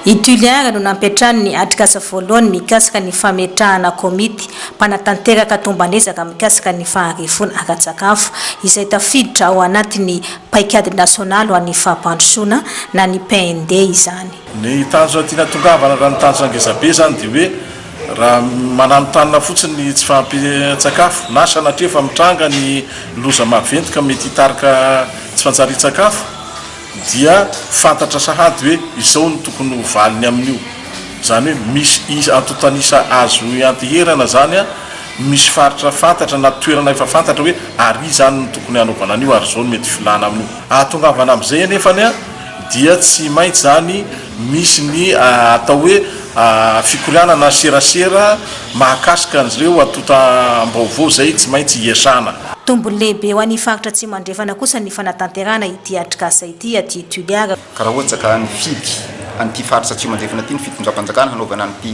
I Tulliaire no nampiantrano ny atrikasa voalohany mikasika ny fametrahana komity mpanatanteraka tomban'ezaka mikasika ny faharifoana ara-tsakafo, izay tafiditra ao anatin'ny Paikady Nasionaly ho an'ny Fampandrosoana na ny PND izany. Ny tanjona tiana atongavana raha ny tanjona ngezabe izany dia hoe raha mananontanona fotsiny ny tsy fahampian-tsakafo na sanatria efa mitranga ny loza maventy ka mety hitarika tsy fantsarian-tsakafo, dia fantatra sahady hoe izao no tokony ho valiny amin'io. Izany hoe misy isa, antontan'isa azo ianteherana izany an, misy faritra fantatra na toerana efa fantatra hoe ary izany no tokony hanaovana an'io ary izao no mety filana amin'io. Ahatongavana amin'izay anefany an, dia tsy maintsy izany misy ny atao hoe fikorianana serasera mahakasika an'izireo antontam-baovao izay tsy maintsy iasana. Tombony lehibe ho an'ny Faritra Atsimo Andrefana kosa ny fanatanterahana Ity atrikasa ity aty Toliara. Ka raha ohatra ka nifidy an'ity faritra Atsimo Andrefana ity ny fitondram-panjakana hanaovana an'ity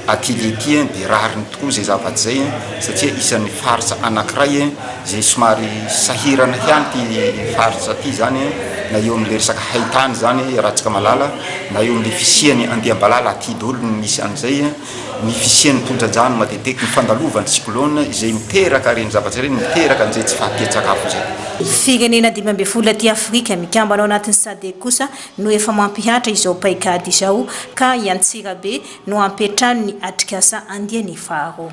atelier ity dia rariny tokoa izay zava-tsy izay satria isan'ny faritra anankiray izay somary sahirana ihany ity faritra ity izany na eo amin'ilay resaka haitany izany Ratsikamalala na eo amin'ilay fisian'ny andiam-balala aty daholo no misy an'izay ny fisian'ny tondra-drano matetiteky, ny fandalovan'ny cyclone izay miteraka ireny zavatra ireny, miteraka an'izay tsy fahampian-tsakafo izay. Firenena dimy ambin'ny folo aty Afrika mikambana ao anatin'ny Sadc kosa no efa mampihatra izao paikady izao ka i Antsirabe no hampiantrano ny atrikasa andiany faharoa.